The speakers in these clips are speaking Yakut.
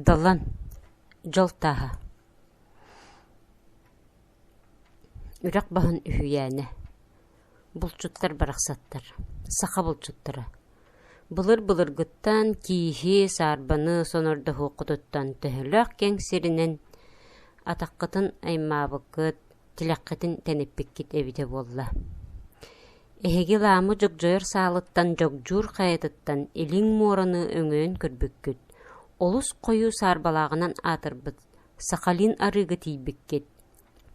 Далан, дьол тааһа Үрэх баһын үһүйээнэ Булчуттар барахсаттар Саха булчуттара Былыр-былыргыттан кииһи, саарбаны сонордоһуоххутуттан төһөлөөх кеҥ сиринэн атаххытын аймаабыккыт, тилэххитин тэниппиккит эбитэ буолла Эһиги Лаамы дьогдьойор саалыттан дьогдьуур хайатыттан илиҥ муораны өҥөйөн көрбүккүт, олус хойуу саарбалааҕынан аатырбыт сахалин арыыга тиийбиккит,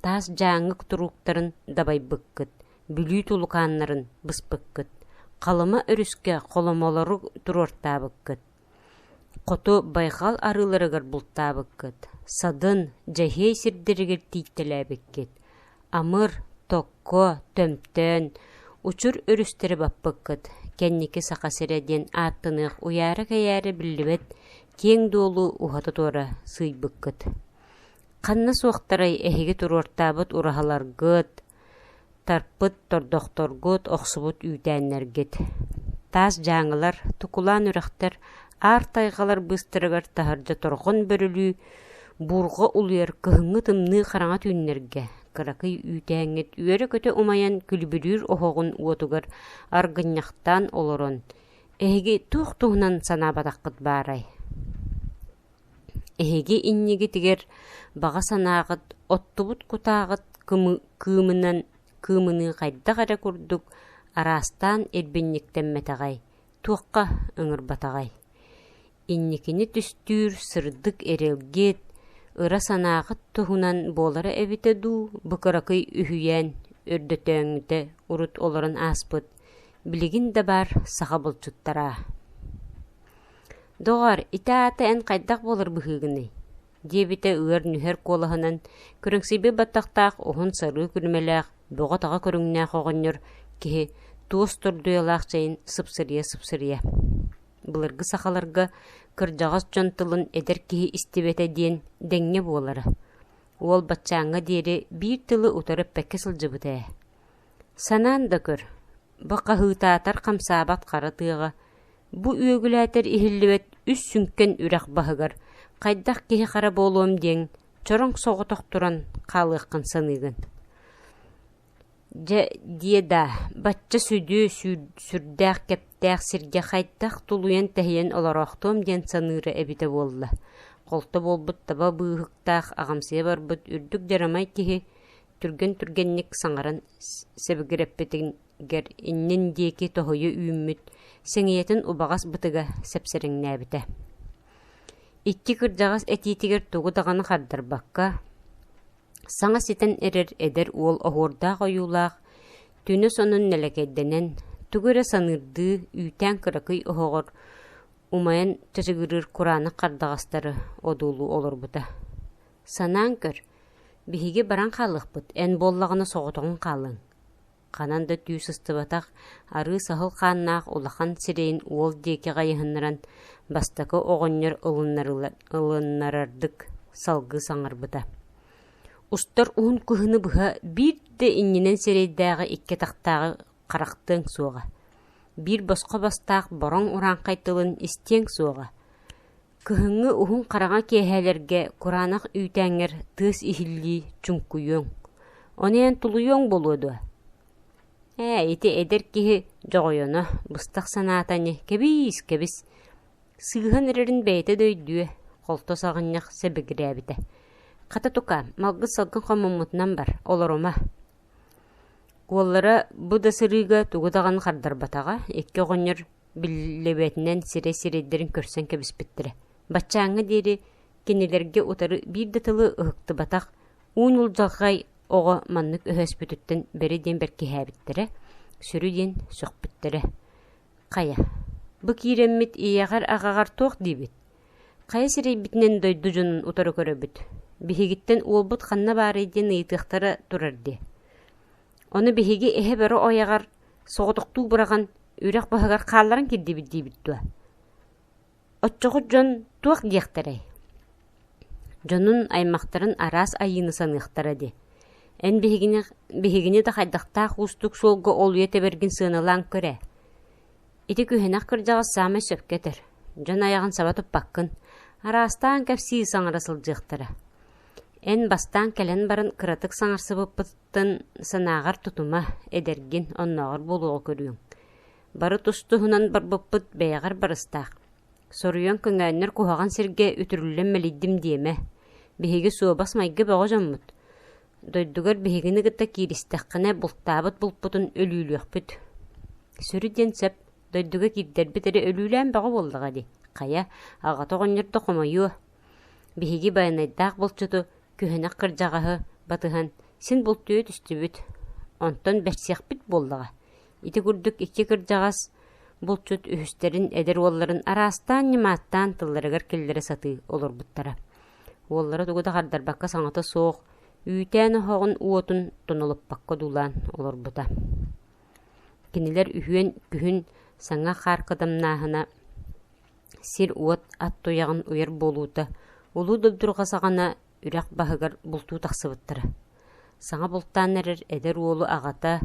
таас дьааҥык турууктарын дабайбыккыт, бүлүү тулукааннарын быспыккыт, халыма өрүскэ холомолору туруортаабыккыт, Хоту байҕал арыыларыгар бултаабыккыт, садын, дьэһиэй сирдэригэр тиийтэлээбиккит, амыр, токко, төмтөөн, учур өрүстэри баппыккыт, кэнники Саха сирэ диэн ааттаныах уйаара-кэйээрэ биллибэт киэҥ дуолу уһата-туора сыыйбыккыт. Ханна суохтарай эһиги туруортаабыт ураһаларгыт, Тарпыт, тордохторгут, охсубут үүтээннэргит. Таас дьааҥылар, тукулаан үрэхтэр аар тайҕалар быыстарыгар таһырдьа торҕон бөрүлүү, буурҕа улуйар кыһыҥҥы тымныы хараҥа түүннэргэ кыракый үүтээҥҥит үөрэ-көтө умайан күлүбүрүүр оһоҕун уотугар аргынньахтаан олорон, эһиги туох туһунан санаабатаххыт баарай Эһиги иннигитигэр баҕа санааҕыт, оттубут кутааҕыт кыымынан кыымыныы хайдах эрэ курдук араастаан ирбинньиктэммэтэҕэй, туохха ыҥырбатаҕай? Инникини түстүүр сырдык эрэлгит, ыра санааҕыт туһунан буолара эбитэ дуу, бу кыракый үһүйээн өрдөтөөҥүтэ урут олорон ааспыт, билигин да баар саха булчуттараа «Доҕоор, ити аата эн хайдах буолар быһыыгыный?» диэбитэ ыар нүһэр куолаһынан күрэҥсийбит баттахтаах уһун-сарыы күлүмэлээх, бөҕө-таҕа көрүҥнээх оҕонньор киһи туос турдуйалаах чэйин сыпсырыйа-сыпсырыйа «былыргы сахаларга кырдьаҕас дьон тылын эдэр киһи истибэтэ диэн дэҥҥэ буолара, уол баччааҥҥа диэри биир тылы утары эппэккэ сылдьыбыта ээ. Санаан да көр, бу хаһыытаатар хамсаабат хара тыаҕа, бу үөгүлээтэр иһиллибэт үс сүҥкэн үрэх баһыгар хайдах киһи-хара буолуом диэн чороҥ соҕотох туран хаалыаххын саныыгын Дьэ, дии-даа, бачча сүдү, сүрдээх кэптээх сиргэ хайдах тулуйан-тэһийэн олороохтуом диэн саныыра эбитэ буолла, холто буолбут таба быыһыктаах аҕамсыйа барбыт үрдүк дьарамай киһи Түргэн түргэнник саҥаран сэбигирэппитигэр иннин диэки тоһуйа үүммүт сэҥийэтин убаҕас бытыга сэпсэрэҥнээбитэ. Икки кырдьаҕас этиитигэр тугу даҕаны хардарбакка, саҥа ситэн эрэр эдэр уол оһуордаах ойуулаах, түнэ сонун нэлэкэйдэнэн, тугу эрэ саныырдыы, үүтээн кыракый оһоҕор умайан чачыгырыыр кураанах хардаҕастары одуулуу олорбута. Санаан көр, Биһиги баран хаалыахпыт, эн буоллаҕына соҕотоҕун хаалыҥ, ханан да түү сыстыбатах, арыы саһыл хааннаах улахан сирэйин уол диэки хайыһыннаран, бастакы оҕонньор ылыннарардык салгыы саҥарбыта устар уһун кыһыны быһа биир да иннинэн сирэйдээҕи икки атахтааҕы харахтыаҥ суоҕа, биир босхо бастаах бороҥ урааҥхай тылын истиэҥ суоҕа Кыһыҥҥы уһун хараҕа киэһээлэргэ кураанах үүтээҥҥэр тыас иһиллии чуҥкуйуоҥ, ону эн тулуйуоҥ буолуо дуо? Ээ, ити эдэр киһи дьоҕойоно, быстах санаата ини, кэбис-кэбис, сыыһан эрэрин бэйэтэ да өйдүө, холто саҕынньах сэбигирээбитэ. Хата тукаам, малгын-салгын хоммуммутунан бар, олорума. Уоллара бу да сырыыга тугу даҕаны хардарбатаҕа, икки оҕонньор биллибэтинэн сирэй сирэйдэрин көрсөн кэбиспиттэрэ баччааҥҥа диэри кинилэргэ утары биир да тылы ыһыктыбатах уун улдьаҕай оҕо маннык өһөспүтүттэн бэрэ диэн бэркиһээбиттэрэ сүрү диэн сөхпүттэрэ хайа бу киирэммит ийэҕэр аҕаҕар туох диибит хайа сирэйбитинэн дойду дьонун утары көрөбүт биһигиттэн уолбут ханна баарай диэн ыйытыахтара турар дии Ону биһиги эһэ бөрө ойоҕор соҕотохтуу быраҕан үрэх баһыгар хаалларан киирдибит диибит дуо? Оччоҕут дьон туох диэхтэрэй? Дьонун, аймахтарын араас айыыны саныахтара дии. Эн биһигини, биһигини да хайдахтаах уустук суолга олуйа тэбэргин сыаналаан көр ээ. Ити күһэнэх кырдьаҕас саамай сөпкө этэр. Дьон айаҕын саба туппаккын. Араастаан кэпсии саҥара сылдьыахтара. Эн бастаан кэлэн баран кыратык саҥарсыбыппыт Тан санааҕар тутума, эдэргин, оннооҕор буолуоҕа көрүөҥ. Бары тус-туһунан барбыппыт бэйэҕэр барыстаах. Соруйан көҥөөннөр куһаҕан сиргэ үтүрүллэн мэлийдим диэмэ. Биһиги суобас майгы бөҕө дьоммут. Дойдугар биһигини кытта кииристэххинэ бултаабыт булпутун өлүүлүөхпүт. Сүрү диэн сөп, дойдуга киирдэрбит эрэ өлүүлээн бөҕө буоллаҕа дии. Хайа, аҕата оҕонньор да хомойуо. Биһиги байанайдаах булчуту, күһэнэх кырдьаҕаһы батыһан, син бултуйа түстүбүт, онтон бэрсиэхпит буоллаҕа. Ити курдук икки кырдьаҕас булчут үһүстэрин эдэр уолларын араастаан-ньымааттаан тылларыгар киллэрэ сатыы олорбуттара. Уоллара тугу да хардарбакка саҥата суох, үүтээн оһоҕун уотун тонолуппакка дуулаан олорбута. Кинилэр үһүөн күһүн саҥа хаар кытамнааһына сир-уот ат туйаҕын уйар буолуута улуу добдурҕа саҕана үрэх баһыгар бултуу тахсыбыттара. Саҥа бултаан эрэр эдэр уолу аҕата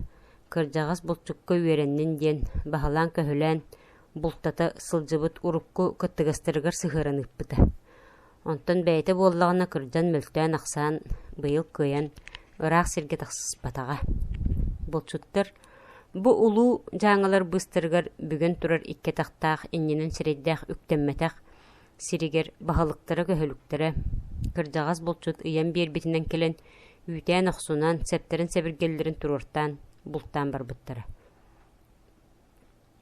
кырдьаҕас булчукка үөрэннин диэн баһылаан-көһүлээн бултата сылдьыбыт урукку кыттыгастарыгар сыһыаран ыыппыта. Онтон бэйэтэ буоллаҕына кырдьан мөлтөөн-ахсаан, быйыл кыайан, ыраах сиргэ тахсыспатаҕа. Булчуттар бу улуу дьааҥылар быыстарыгар бүгэн турар икки атахтаах иннинэн сирэйдээх үктэммэтэх сиригэр баһылыктара-көһөлүктэрэ, кырдьаҕас булчут ыйан биэрбитинэн кэлэн, үүтээн охсунан, сэптэрин сэбиргэллэрин туруортаан, бултаан барбыттара.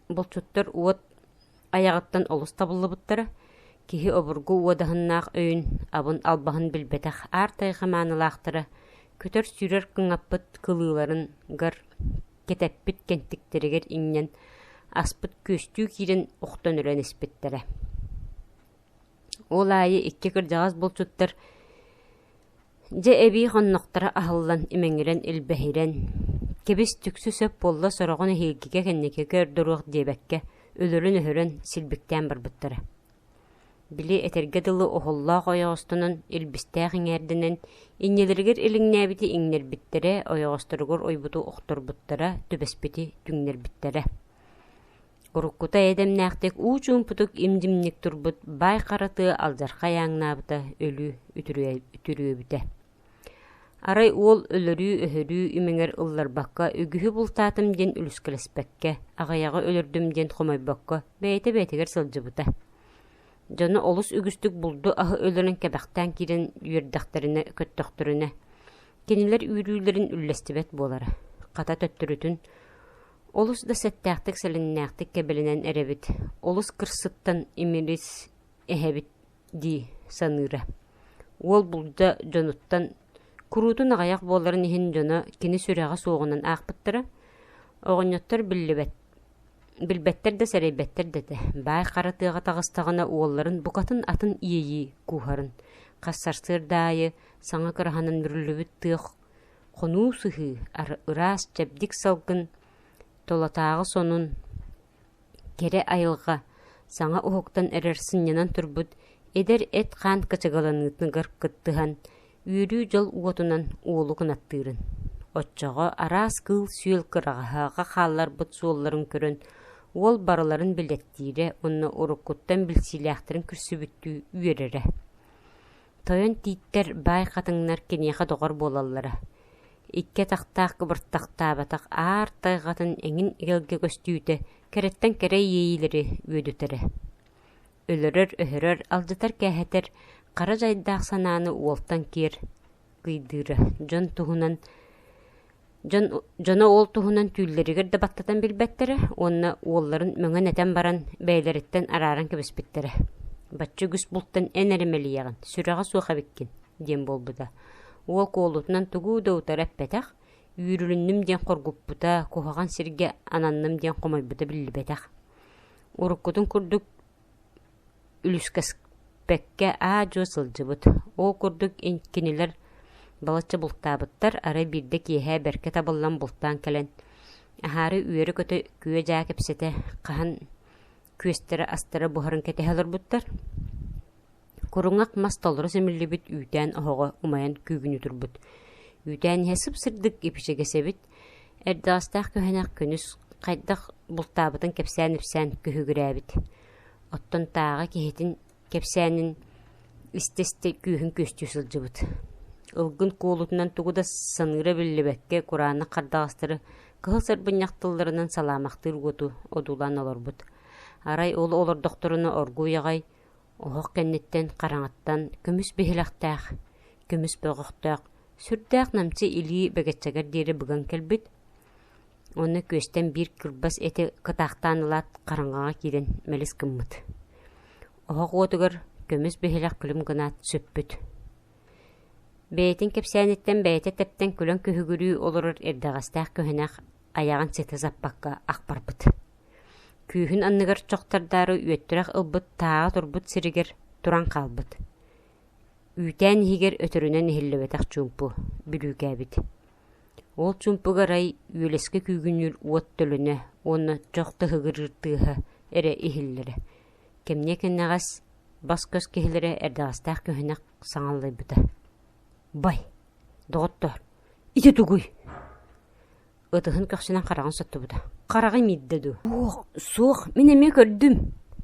Булчуттар уот айаҕыттан олус табыллыбыттара, киһи обургу уодаһыннаах өйүн, абын албаһын билбэтэх аартай хамаандалаахтара көтөр-сүүрэр кыҥаппыт кылыыларын гар кэтэппит кэнтиктэригэр иҥнэн, аспыт күөстүү киирэн охтон өлөн испиттэрэ. Ол аайы икки кырдьаҕас булчуттар Дьэ эбии хоннохторо аһыллан, имэҥирэн, илбэһирэн, кэбис-түксү сөп буолла сороҕу нэһиилгигэ кэнники көрдөрүөх диэбэккэ, өлөрөн-өһөрөн силбиктээн барбыттара. Били этэргэ дылы оһоллоох ойоҕостонон, илбистээх иҥээрдэнэн, иннилэригэр илиҥнээбити иҥнэрбиттэрэ, ойоҕосторугар ойбуту охторбуттара, түбэспити түҥнэрбиттэрэ Уруккута эдэмнээхтик уу чуумпутук им-дьимник турбут баай хара тыа алдьархай ааҥнаабыта өлүү үтүрүөбүтэ. Арай уол өлөрүү-өһөрүү имэҥэр ылларбакка үгүһү бултаатым диэн үлүскэлэспэккэ, аҕыйаҕы өлөрдүм диэн хомойбокко, бэйэтэ-бэйэтигэр сылдьыбыта. Дьоно олус үгүстүк булду-аһы өлөрөн кэбэхтээн киирэн үөрдэхтэринэ, көттөхтөрүнэ, кинилэр үүрүүлэрин үллэстибэт буолара. Хата төттөрүтүн Олус да сэттээхтик сэлиннээхтик кэбилэнэн эрэбит, олус кырсыттан имирис эһэбит дии саныыра. Уол булда дьонуттан куруутун аҕыйах буоларын иһин дьоно кини сүрэҕэ суоҕунан аахпыттара. Оҕонньоттор биллибэт билбэттэр да сэрэйбэттэр да этэ. Баай хара тыаҕа таҕыстаҕына уолларын букатын атын иэйии кууһарын. Хас сарсыарда аайы саҥа кыраһанан бүрүллүбүт тыах Хонуу сыһыы ыраас чэбдик салгын толотааҕы сонун кэрэ айылҕа саҥа уһуктан эрэр сынньанан турбут эдэр эт-хаан кычыгаланыытыгар кыттыһан үөрүү дьол уотунан уолу кынаттыырын, оччоҕо араас кыыл-сүөл кыраҕаһаҕа хаалларбыт суолларын көрөн уол барыларын билэттиирэ уонна уруккуттан билсиилээхтэрин көрсүбүттүү үөрэрэ Тойон тииттэр баай хатыҥнар киниэхэ доҕор буолаллара, икки атахтаах кыбыртахтаабатах аар тайҕатын эҥин эгэлгэ көстүүтэ кэрэттэн кэрэ иэйиилэри үөдэтэрэ. Өлөрөр-өһөрөр, алдьатар-кээһэтэр хара дьайдаах санааны уолтан киэр кыйдыыра, дьон туһунан Дьон дьоно ол туһунан түүллэригэр да баттатан билбэттэрэ уонна уолларын мөҥөн этэн баран бэйэлэриттэн арааран кэбиспиттэрэ «Бачча үгүс бултан эн эрэ мэлийэҕин, сүрэҕэ суох эбиккин» диэн буолбута. Уол куолутунан тугу да утары эппэтэх, үүрүлүннүм диэн хоргуппута, куһаҕан сиргэ ананным диэн хомойбута биллибэтэх. Уруккутун курдук Үлүскэспэккэ аа-дьуо сылдьыбыт, ол курдук кинилэр балачча бултаабыттар, арай биирдэ киэһэ бэркэ табыллан бултаан кэлэн, аһаары үөрэ-көтө күө-дьаа кэпсэтэ, хаһан күөстэрэ-астара буһарын кэтэһэ олорбуттар Куруҥах мас толору симиллибит үүтээн оһоҕо умайан күүгүнүү турбут. Үүтээн иһэ сып-сырдык ипичигэсэбит, эрдэҕэстээх көһөнөх күнүс хайдах бултаабытын кэпсээн-ипсээн күһүгүрээбит. Оттон тааҕы киһитин кэпсээнин истэ-истэ күүһүн күөстүү сылдьыбыт. Ылгын куолутунан тугу да саныыра биллибэккэ кураанах хардаҕастары кыһыл сарбынньах тылларынан салаамахтыыр уоту одуулаан олорбут. Арай ол олордохторуна оргууй аҕай, Оһох кэнниттэн хараҥаттан көмүс биһилэхтээх, көмүс бөҕөхтөөх, сүрдээх намчы илии бэгэччэгэр диэри быган кэлбит уонна күөстэн биир кырбас эти кытаахтаан ылаат, хараҥаҕа киирэн мэлис гыммыт. Оһох уотугар көмүс биһилэх күлүм гынаат сүппүт. Бэйэтин кэпсээниттэн бэйэтэ тэптэн күлэн күһүгүрүү олорор эрдэҕэстээх көһүнэх айаҕын ситэ саппакка ахпарбыт. Күүһүн анныгар чохтордоору үөттүрэх ылбыт тааҕа турбут сиригэр туран хаалбыт. Үүтээн иһигэр өтөрүнэн иһиллибэтэх чуумпу бүрүүкээбит. Ол чуумпугарай үөлэскэ күүгүнүүр уот төлөнө уонна чох тыһыгырыыр тыаһа эрэ иһиллэрэ. Кэмниэ кэннэҕэс бас-көс киһилэрэ эрдэҕэстээх көһүнэх саҥаллайбыта Бай, доҕоттоор, ити тугуй? ытыһын көхсүнэн хараҕын соттубута. Хараҕый миирдэ дуу? Суох, суох, мин эмиэ көрдүм.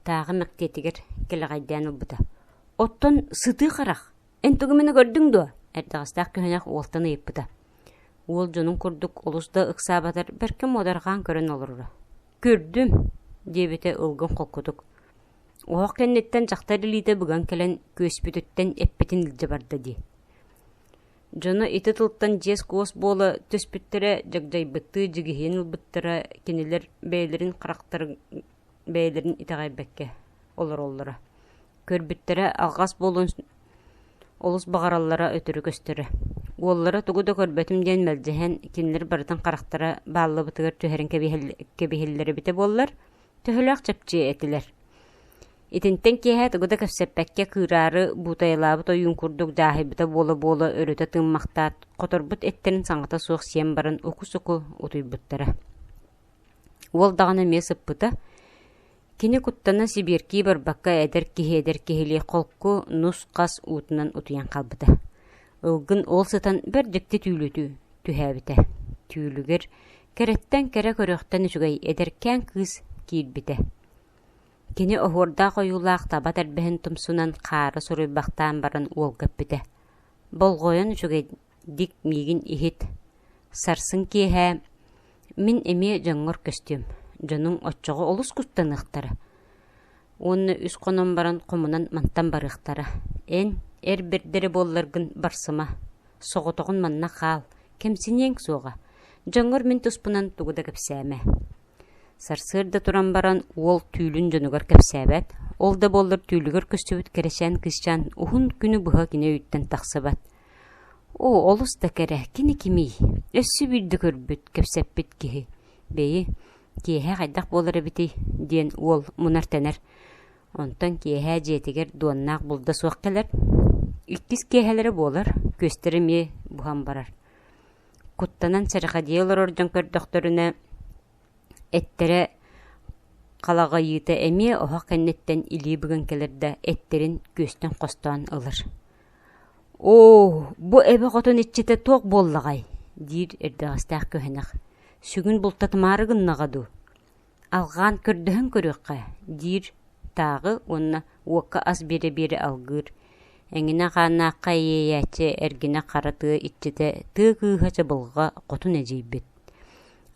Тааҕы мэктиэтигэр кэлэҕэйдээн ылбыта. Оттон сытыы харах, эн тугу мин көрдүҥ дуо? Эрдэҕэстээх күһэнэх уолтан ыйыппыта. Уол дьонун курдук олус да ыксаабатар бэркэ муодарҕаан көрөн олороро. «Көрдүм», диэбитэ ылгын холкутук. Уһук кэнниттэн дьахтар илиитэ быган кэлэн күөспүтүттэн эппитин илдьэ барда дии Дьоно ити тылтан дьиэс-куос буола түспүттэрэ, дьагдайбыттыы дьигиһийэн ылбыттара, кинилэр бэйэлэрин харахтарын бэйэлэрин итэҕэйбэккэ олороллоро. Көрбүттэрэ аҕас буолан олус баҕараллара өтөрү көстөрө. Уоллара тугу да көрбөтүм диэн мэлдьэһэн, кинилэр барытын харахтара бааллабытыгар түһэрин кэбиһиллэрэ эбитэ буоллар, төһөлөөх чэпчиэ этилэр. Итинтэн киэһэ тугу да кэпсэппэккэ кыыраары буутайалаабыт ойуун курдук дьааһыйбыта буола-буола өрүтэ тыыммахтаат, хоторбут эттэрин саҥата суох сиэн баран уку-суку утуйбуттара. Уол даҕаны эмиэ сыппыта, кини куттана сибиэркии барбакка эдэр киһи эдэр киһилии холку нус-хас уутунан утуйан хаалбыта. Ылгын ол сытан бэрдьикти түүлүтүү түһээбитэ. Түүлүгэр Кэрэттэн кэрэ көрүөхтэн үчүгэй эдэркээн кыыс киирбитэ Кини оһуордаах ойуулаах таба тэрбэһин тумсунан хаары суруйбахтаан баран уолгаппыта «Болҕойон үчүгэй, дик миигин иһит. Сарсын киэһээ мин эмиэ дьоҥҥор көстүөм, дьонуҥ оччоҕо олус куттаныахтара уонна үс хонон баран хомунан мантан барыахтара эн эр бэрдэри буолларгын барсыма соҕотоҕун манна хаал кэмсиниэҥ суоҕа дьоҥҥор мин туспунан тугу да кэпсээмэ сарсыарда туран баран уол түүлүн дьонугар кэпсээбэт ол да буоллар түүлүгэр көстүбүт кэрэчээн кыысчаан уһун күнү быһа кини өйүттэн тахсыбат оо олус да кэрэ кини кимий өссө биирдэ көрбүт кэпсэппит киһи бэйи киэһэ хайдах буолар эбитий диэн уол мунар-тэнэр. Онтон киэһэ дьиэтигэр дуоннаах булда суох кэлэр. Иккис киэһэлэрэ буолар, күөстэрэ эмиэ буһан барар. Куттанан сэрэхэдийэ олорор дьон көрдөхтөрүнэ, эттэрэ халагайыыта эмиэ оһох кэнниттэн илии бүгэн кэлэр да, эттэрин күөстэн хостоон ылар. оо бу эбэ хотун иччитэ туох буоллаҕай диир эрдэҕэстээх көһөнөх сүгүн бултатымаары гыннаҕа дуу алҕаан көрдөһөн көрүөххэ диир тааҕы уонна уокка ас биэрэ-биэрэ алгыыр эҥинэ хааннаахха иэйээччи эргинэ хара тыа иччитэ тыа кыыһа чабылҕа хотун эдьиийбит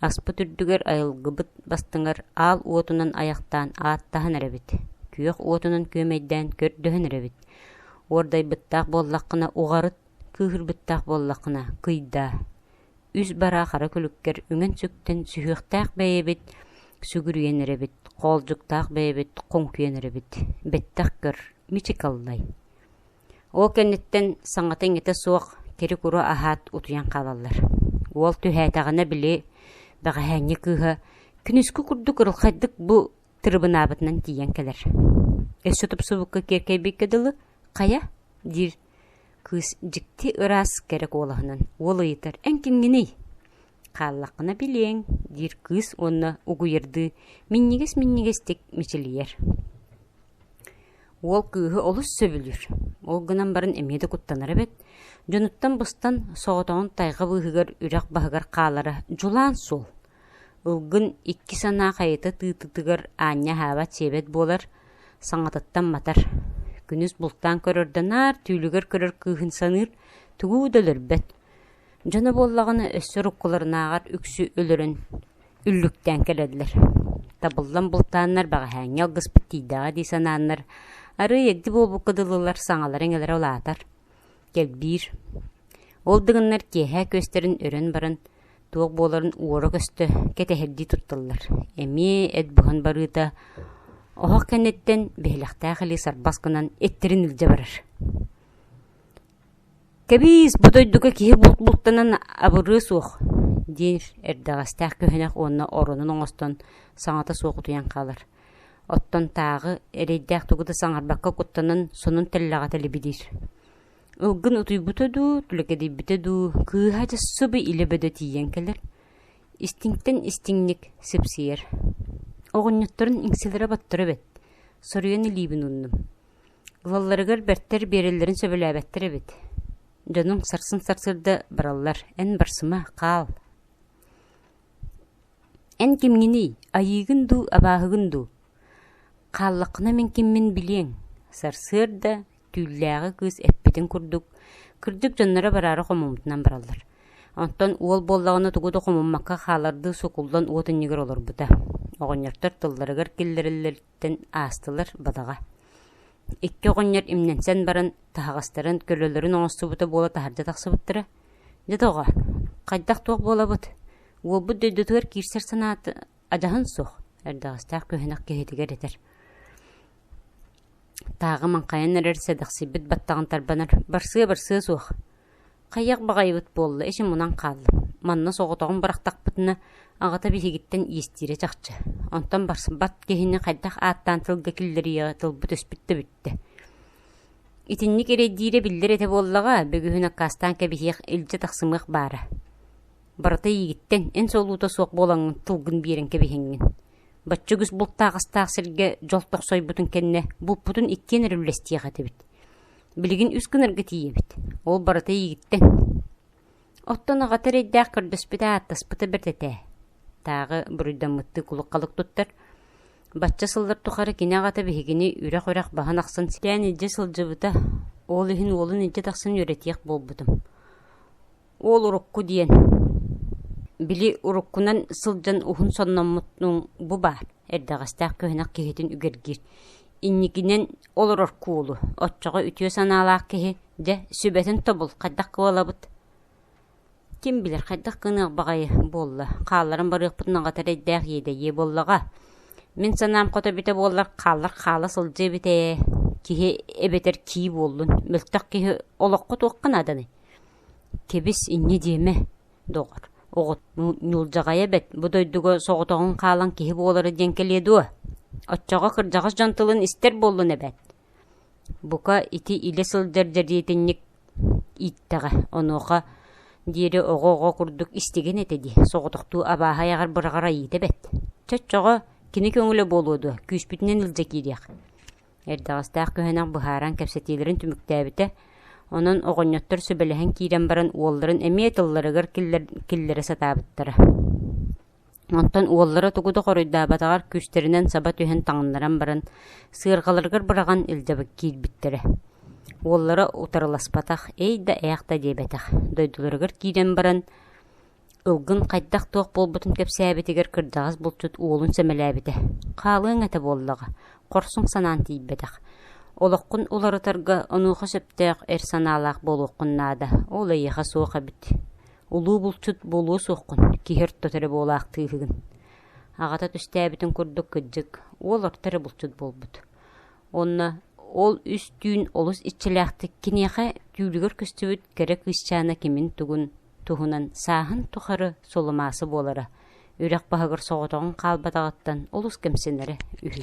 Аспыт үрдүгэр айылгыбыт бастыҥар аал уотунан айахтаан ааттаһан эрэбит, күөх уотунан күөмэйдээн көрдөһөн эрэбит, уордайбыттаах буоллаххына уҕарыт, кыыһырбыттаах буоллаххына кыйдаа, үс бараа хара күлүккэр үҥэн-сүктэн сүһүөхтээх бэйэбит сүгүрүйэн эрэбит, хоолдьуктаах бэйэбит хоҥкуйан эрэбит, бэттэх көр, мичикаллай Ол кэнниттэн саҥата иҥэтэ суох тири-куру аһаат утуйан хаалаллар. Уол түһээтэҕинэ били бэҕэһээҥҥи кыыһа күнүскү курдук ырылхайдык бу тырыбынаабытынан тиийэн кэлэр. Өссө тупсубукка киэркэйбиккэ дылы, «Хайа?» диир кыыс дьикти ыраас кэрэ куолаһынан уол ыйытар: «Эн кимҥиний?» Хааллаххына билиэҥ, диир кыыс уонна угуйардыы минньигэс-минньигэстик мичилийэр. Уол кыыһы олус сөбүлүүр. Ол гынан баран эмиэ да куттанар эбит. Дьонуттан быстан, соҕотоҕун тайҕа быыһыгар үрэх баһыгар хаалара дьулаан суол. Ылгын икки санаа хайыта тыытытыгар аанньа аһаабат сиэбэт буолар, саҥатыттан матар. Күнүс бултаан көрөрдө наар түүлүгэр көрөр кыыһын саныыр, тугуу да өлөрбөт. дьоно буоллаҕына өссө уруккуларынааҕар үксү өлөрөн үллүктээн кэлэллэр табыллан бултааннар бэҕэһээҥҥи алгыспыт тиийдэҕэ дии санааннар арыый эрдэ буолбукка дылылар саҥаларын иҥэлэрэ улаатар кэлбиир ол да гыннар киэһэ күөстэрин өрөн баран туох буоларын уора көстө кэтэһэрдии тутталлар эмиэ эт буһан барыыта оһох кэнниттэн биһилэхтээх илии сарбас гынан эттэрин илдьэ барар Кэбиис, бу дойдуга киһи булт-бултанан абырыа суох, диир эрдэҕэстээх көһүнэх уонна оронун оҥостон саҥата суох утуйан хаалар. Оттон тааҕы эрэйдээх тугу да саҥарбакка куттанан сонун тэллэҕэ тэлибилиир. Ылгын утуйбута дуу, түлэкэдийбитэ дуу, кыыһа дьассыбы илэ-бөдө тиийэн кэлэр, истиҥтэн истиҥник сипсийэр. Оҕонньотторун иҥсилэрэ-баттара бэрт, соруйан илиибин уннум. Ыалларыгар бэртэр биэрэллэрин сөбүлээбэттэр эбит Дьонуҥ сарсын сарсыарда бараллар, эн барсыма, хаал Эн кимҥиний, айыыгын дуу, абааһыгын дуу? Хааллаххына мин киммин билиэҥ Сарсыарда түүллээҕи кыыс эппитин курдук кырдьык дьонноро бараары хомуммутунан бараллар Онтон уол буоллаҕына тугу да хомуммакка хаалардыы сукуллан уот иннигэр олорбута Оҕонньортор тылларыгар киллэриллэр тэн аастылар бадаҕа. Икки оҕонньор имнэнсэн баран таһаҕастарын, көлөлөрүн оҥостубута буола таһырдьа тахсыбыттара. Дьэ доҕо, хайдах туох буолабыт? Уолбут дойдутугар киирсэр санаата адьаһын суох, эрдэҕэстээх көһөнөх киһитигэр этэр. Тааҕы маҥхайан эрэр сэдэхсийбит баттаҕын тарбанар барсыа-барсыа суох. Хайыах баҕайыбыт буолла, эчи мунан хааллым, манна соҕотоҕун бырахтахпытына, аҕата биһигиттэн иэстиирэ чахчы, онтон барсыбат киһини хайдах ааттаан тылга киллэриэҕи тылбыт-өспүт да бүттэ. Итинник эрэйдиирэ биллэр этэ буоллаҕа, бөгүһүн аккаастаан кэбиһиэх илдьэ тахсымыах баара. Барыта эйиигиттэн эн солуута суох буолаҥҥын тылгын биэрэн кэбиһиҥҥин. Бачча үгүс бултаах-астаах сиргэ дьол тохсойбутун кэннэ, булпутун иккиэн эрэ үллэстиэх этибит. Билигин үс гынарга тиийэбит, ол барыта эйиигиттэн. Оттон аҕата эрэйдээх көрдөспүтэ-ааттаспыта бэрт этэ. Тааҕы буруйдаммыттыы кулук-халык туттар. Бачча сыллар тухары кини аҕата биһигини үрэх-үрэх баһан ахсан ситээн илдьэ сылдьыбыта, ол иһин уолун илдьэ тахсан үөрэтиэх буолбутум. Уол урукку диэн. Били уруккунан сылдьан уһун сонноммутнуҥ бу баар. эрдэҕэстээх кыһынах киһитин үгэргиир. Инникинэн олорор куулу, оччоҕо үтүө санаалаах киһи, дьэ, сүбэтин тобул хайдах кыбалабыт? Ким билэр хайдах гыныах баҕайы буолла, хаалларан барыахпытын аҕата эрэйдээх иэдэйиэ буоллаҕа. Мин санаам хото эбитэ буоллар хааллар хаала сылдьыа эбит ээ. Киһи эбэтэр кии буоллун, мөлтөх киһи олоххо туохха нааданы? Кэбис, инньэ диэмэ. доҕор, оҕот, ньуулдьаҕайа бэт, бу дойдуга соҕотоҕун хаалан киһи буолара диэн кэлиэ дуо? Оччоҕо кырдьаҕас дьон тылын истэр буоллун эбээт. Бука, ити илэ сылдьар дьэриэтинньик ииттэҕэ, онуоха диэри оҕо-оҕо курдук истигин этэ дии, соҕотохтуу абааһы айаҕар быраҕар айыыта эбэт. Чоччоҕо кини көҥүлэ буолуо дуо, күүспүтүнэн илдьэ киириэх. эрдэҕэстээх көһөнөх быһааран кэпсэтиилэрин түмүктээбитэ, онон оҕонньоттор сүбэлэһэн киирэн баран уолларын эмиэ тылларыгар киллэрэ сатаабыттара. Онтон уоллара тугу да хоруйдаабатаҕар күүстэринэн саба түһэн таҥыннаран баран, сыарҕаларыгар быраҕан илдьэбик киирбиттэрэ. Уоллара утарыласпатах, «Эй да ээх да» диэбэтэх, дойдуларыгар киирэн баран, Ылгын хайдах-туох буолбутун кэпсээбитигэр кырдьаҕас булчут уолун сэмэлээбитэ. «Хаалыаҥ этэ буоллаҕа, хорсун санаан тиийбэтэх. Олоххун уларытарга онуоха сөптөөх эр санаалаах буолуоххун наада, ол эйиэхэ суох эбит. Улуу булчут буолуо суоххун, киһи ортото эрэ буолаахтыыһыгын». Аҕата түстээбитин курдук кыдьык, уол орто эрэ булчут буолбут. Онно ол үс түүн олус иччилээхтик киниэхэ түүлүгэр көстүбүт кэрэ кыысчаана кимин-тугун, туһунан сааһын тухары сулумаасы буолара үрэх баһыгар соҕотоҕун хаалбатаҕыттан олус кэмсинэрэ үһү